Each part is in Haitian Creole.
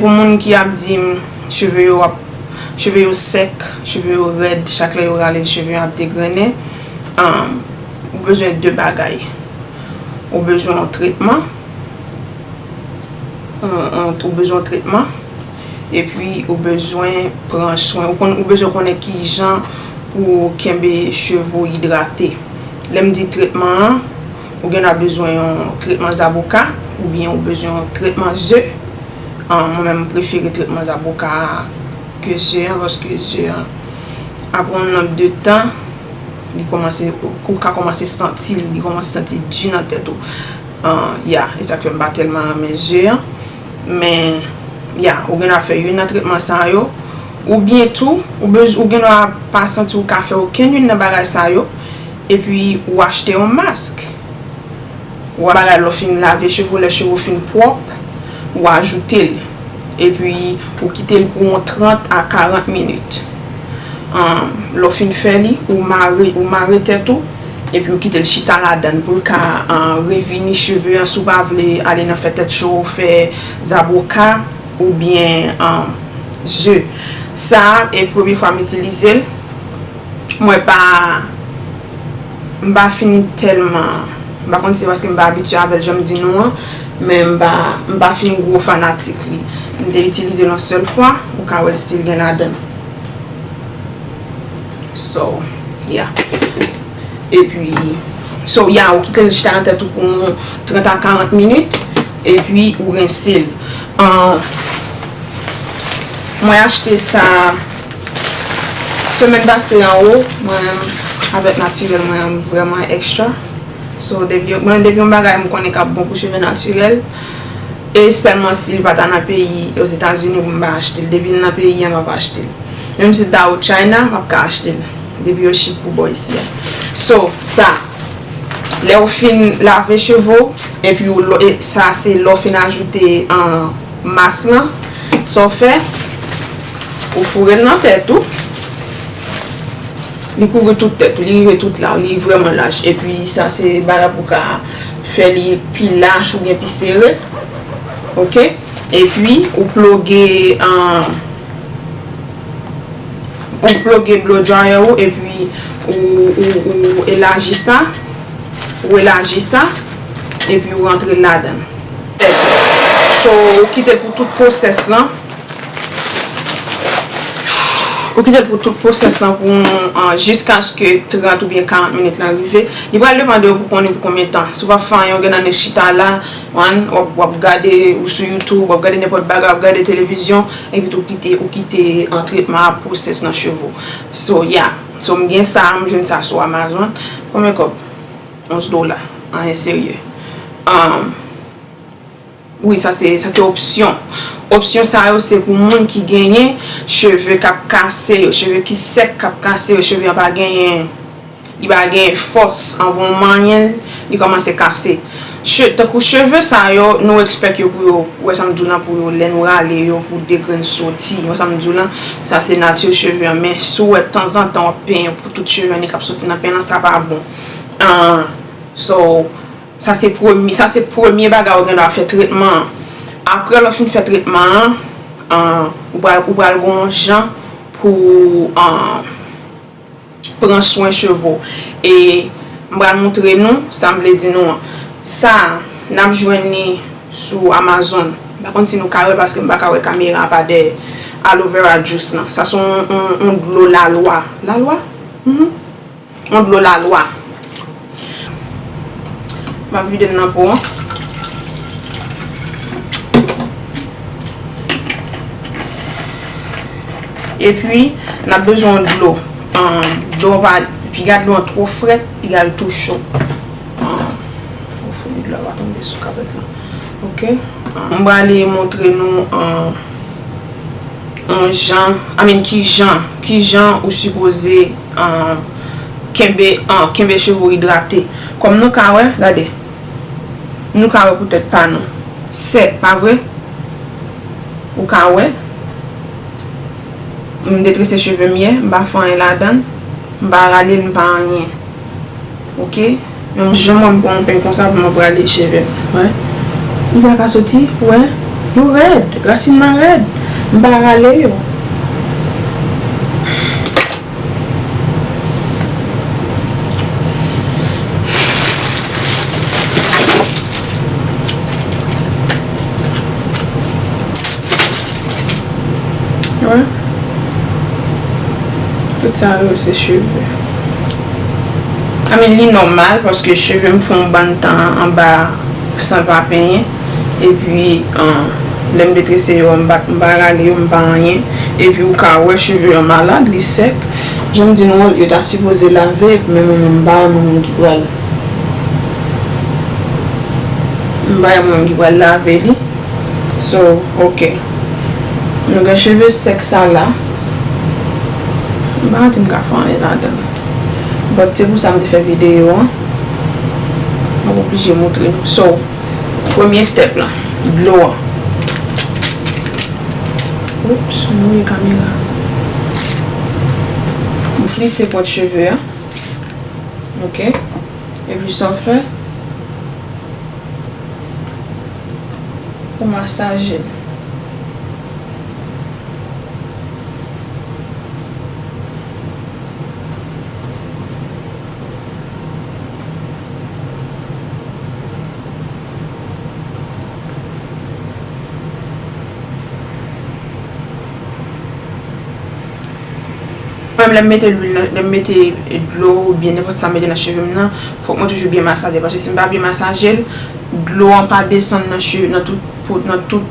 Pou moun ki ap dim cheve yo ap cheve yo sèk cheve yo rèd chak lè yo rale l cheve an ap degrennen ou bezwen 2 bagay ou bezwen yon tretman ou bezwen yon tretman epi ou bezwen pran swen ou bezwen konnen kijan pou kenbe cheve ou idrate lè m di tretman an Ou gen dwa bezwen yon tretman zaboka oubyen ou bezwen yon tretman ze. Mwen menm m prefere tretman zaboka a ke ze an paske ze an aprè yon nonb de tan li kòmanse ou ka kòmanse santi li kòmanse santi di nan tèt ou. Ya, e sa k fè m pa tèlman renmen ze an. Men, ya, ou gen dwa fè youn nan tretman sa yo. Oubyen tou, ou gen dwa pa santi ou ka fè okenn youn nan bagay sa yo. Epi ou achte yon mask. Ou ba la lè w fin lave cheve w, lè cheve w fin pwòp, ou ajoute l. Epi ou kite l pou yon 30 a 40 minit. Lè w fin fè li, ou mare, ou mare tèt ou, epi ou kite l chita ladan l pou l ka revini cheve an si w pa vle ale nan fè tèt cho, fè zaboka oubyen ze. Sa e premye fwa m itilize l. Mwen pa m pa fin tèlman m pa konn si se paske m pa abitye avè l jan m di nou an men m pa m pa fin gwo fanatik li m te itilize l yon sèl fwa ou ka wè l stil gen ladan so ya epi so ya ou kite l chita nan tèt ou pou yon 30 a 40 minit epi ou rense l an mwen achte sa Semèn pase an ou mwen avèk natirèl mwen an vrèman extra So mwen depi yon bagay mwen konnen kap bon pou cheve natirèl E sèlman si li pata nan peyi ozetazini pou m pa achte l Depi l nan peyi an map achte l Menm si l ta ou china map ka achte l Depi yo chip pou bò isi a So sa Lèw fin lave cheve w Epi ou sa se lèw fin ajoute an Mas lan, sa w fè, ou foure l nan tèt ou. Li kouvri tout tèt ou, li rive tout la, li vrèman laj. E pi sa se bagay pou w ka fè li pi laj oubyen pi sere. Ok. E pi ou ploge, ou ploge blow dryer ou e pi ou elaji sa, ou elaji sa e pi ou rantre l ladan l. Tèt ou. So, ou kite l pou tout pwosès lan. Ou kite l pou tout pwosès lan pou jiskaske 30 oubyen 40 minit lan rive. Li pral demande w pou konnen pou konbyen tan. Si w pa fè anyen ou gen nan men chita la, w ap gade ou sou youtube, w ap gade nenpòt bagay, w ap gade televizyon, epi tou kite ou kite tretman a pwosès nan cheve w. So, yeah. So, m gen sa a, m jwenn sa a sou Amazon. Konbyen kòb? 11 dola anyen serye aah. Wi sa se sa se opsyon. Opsyon sa yo se pou moun ki genyen cheve kap kase yo, cheve ki sèk kap kase yo, cheve an pa genyen li pa genyen fòs anvan w manyen l li kòmanse kase. Che tankou cheve sa yo nou ekspèk yo pou yo ou wè sa m di w lan pou yo lè nou rale yo pou de grenn soti ou wè sa m di w lan sa se nati cheve an men si w wè tanzantan w ap penyen pou tout cheve an li kap soti nan pen lan sa pa bon. So, sa se premye, sa se premye bagay ou gen dwa fè tretman an. Aprè lè w fin fè tretman an, ou pral, ou pral gen yon jan pou pran swen cheve w. E m pral montre nou sa m vle di nou an. Sa, n ap jwenn li sou Amazon. M pa konn si nou ka wè l paske m pa ka wè kamera an pa dèyè. Aloe Vera Juice lan. Sa se yon dlo lalwa. Lalwa? Mh. On dlo lalwa. M ap vide l nan po an. E pi, n ap bezwen yon dlo. Dlo an pa, piga dlo an two fret, piga l tou cho. Fouye dlo a va tonbe sou kapèt la. Ok. M prale montre nou. On jan, I mean kijan, kijan ou sipoze kenbe, an, kenbe cheve ou idrate. Kòm nou ka wè, gade. Nou ka wè pou tèt pa nou. Sèk, pa vre? Ou ka wè. M detrese cheve m ye, m pa fè anyen ladan l. M pa rale l, m pa anyen. Ok menm jan mwen pran yon peny konsa pou mwen brale chevem wè li paka soti wè yo rèd rasin nan rèd m pa rale yo. Wè tout sa yo se cheve. I mean li nòmal paske cheve m fon bann tan anba san m pa penyen epi lè m detrese yo an m pa m pa rale yo m pa anyen epi ou ka wè cheve an malad li sèk jan m di nou an yo ta sipoze lave epi men mwen menm m pa renmen moun ki pral m pa renmen moun ki pral lave li so ok nou gen cheve sèk sa la. M pa di m ka fè anyen ladan l. But se pou sa m te fè videyo an. M ap oblije moutre nou. So, premye step lan, dlo an. Oops, m mouye kamera. M flite pwent cheve a. Ok. Epi sa w fè, ou masaje l. Mwen lèm mete lwil nan, lèm mete dlo ou byen nenpòt sa m mete nan cheve m nan, fòk mwen toujou byen masaje. Paske si m pa byen masaje l, dlo an pa desann nan cheve, nan tout, nan tout.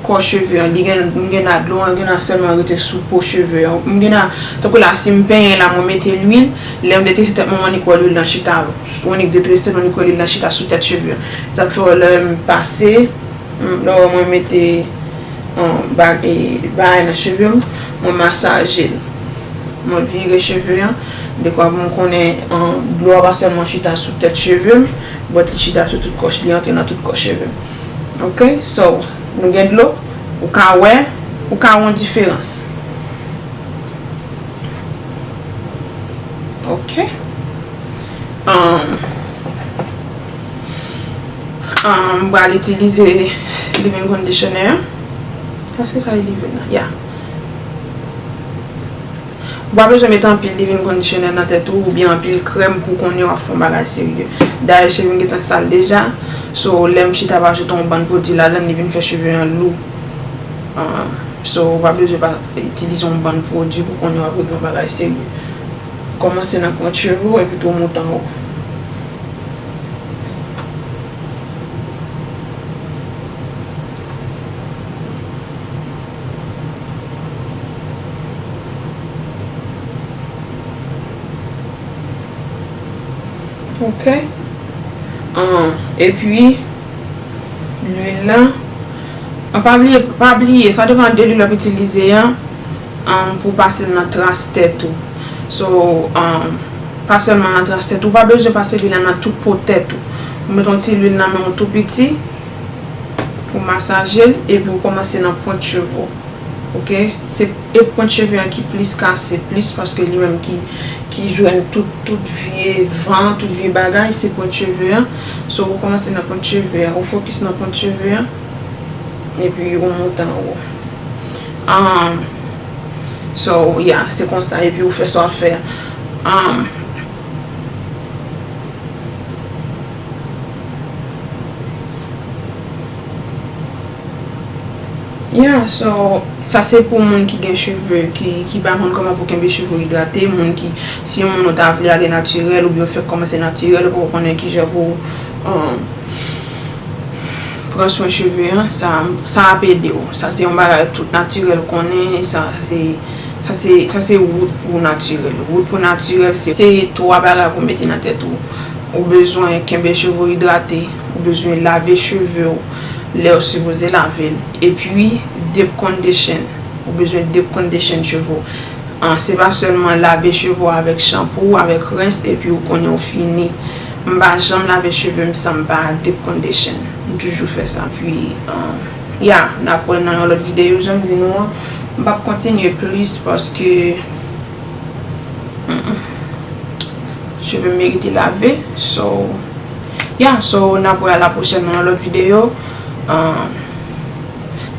kò cheve an li gen m gen la dlo an gen la sèlman rete sou po cheve an m gen la tankou la si m penyen la mwen mete lwil lè m detrese tèt mwen m annik wè lwil lan chita m annik detrese tèt mwen m annik wè lwil lan chita sou tèt cheve an se sak fè wè lè m pase lè w wè mwen mete bagay nan cheve m mwen masaje l mwen vire cheve an dekwa pou m konnen dlo a pa sèlman chita sou tèt cheve m bòt li chita sou tout kò li antre nan tout kò cheve m. Ok so nou gen dlo ou ka wè ou ka wè yon diferans ok umm umm bal itilize live-in conditioner eske sa e live-in nan ya. Ou pa bezwen met anpil leave-in conditioner nan tèt ou oubyen anpil krèm pou konnen wap fè yon bagay serye. Dayè chevem gentan sal deja, so lèm chita wap ajoute yon bann pwodwi ladann li vin fè cheve an lou. So ou pa bezwen pa itilize yon bann pwodwi pou konnen wap regle yon bagay serye. Kòmanse nan pwent cheve ou epi tou moute anwo. Ok Ahh epi Lwil lan An pa bliye pa bliye sa depan de lwil wap itilize an Ahh pou pasel nan tras tèt ou So Ahh pa sèlman nan tras tèt ou pa bezwen pase lwil lan nan tout po tèt ou Ou met yon ti lwil nan menw tou piti Ou masaje l epi ou kòmanse nan pwent cheve w. Ok. Se e pwent cheve an ki plis kase plis paske li menm ki ki jwenn tout tout vye van, tout vye bagay se pwent cheve an. So ou kòmanse nan pwent cheve an. Ou fokis nan pwent cheve an epi ou moute anwo. An So ya se konsa epi ou fè sa w ap fè an. Yeah so sa se pou moun ki gen cheve ki pa konn kòman pou kenbe cheve yo idrate, moun ki si yon moun ou ta vle ale natirèl oubyen ou fèk kòmanse natirèl ou poko konnen kijan pou pran swen cheve an sa ap ede w. Sa se yon bagay tout natirèl konnen e sa se wout pou natirèl. Wout pou natirèl se 3 bagay pou mete nan tèt ou. Ou bezwen kenbe cheve w idrate, ou bezwen lave cheve w lè w sipoze lave l, epi deep condition, ou bezwen deep condition cheve w. Se pa sèlman lave cheve w avèk shampoo, avèk rens epi ou konnen ou fini. M pa janm lave cheve m san m pa deep condition. M toujou fè sa. Epi, yeah, n ap wè nan yon lòt videyo jan m di nou an. M p ap kontinye plis paske. Cheve m merite lave. So, ya, so, n ap wè a la pwochèn nan yon lòt videyo.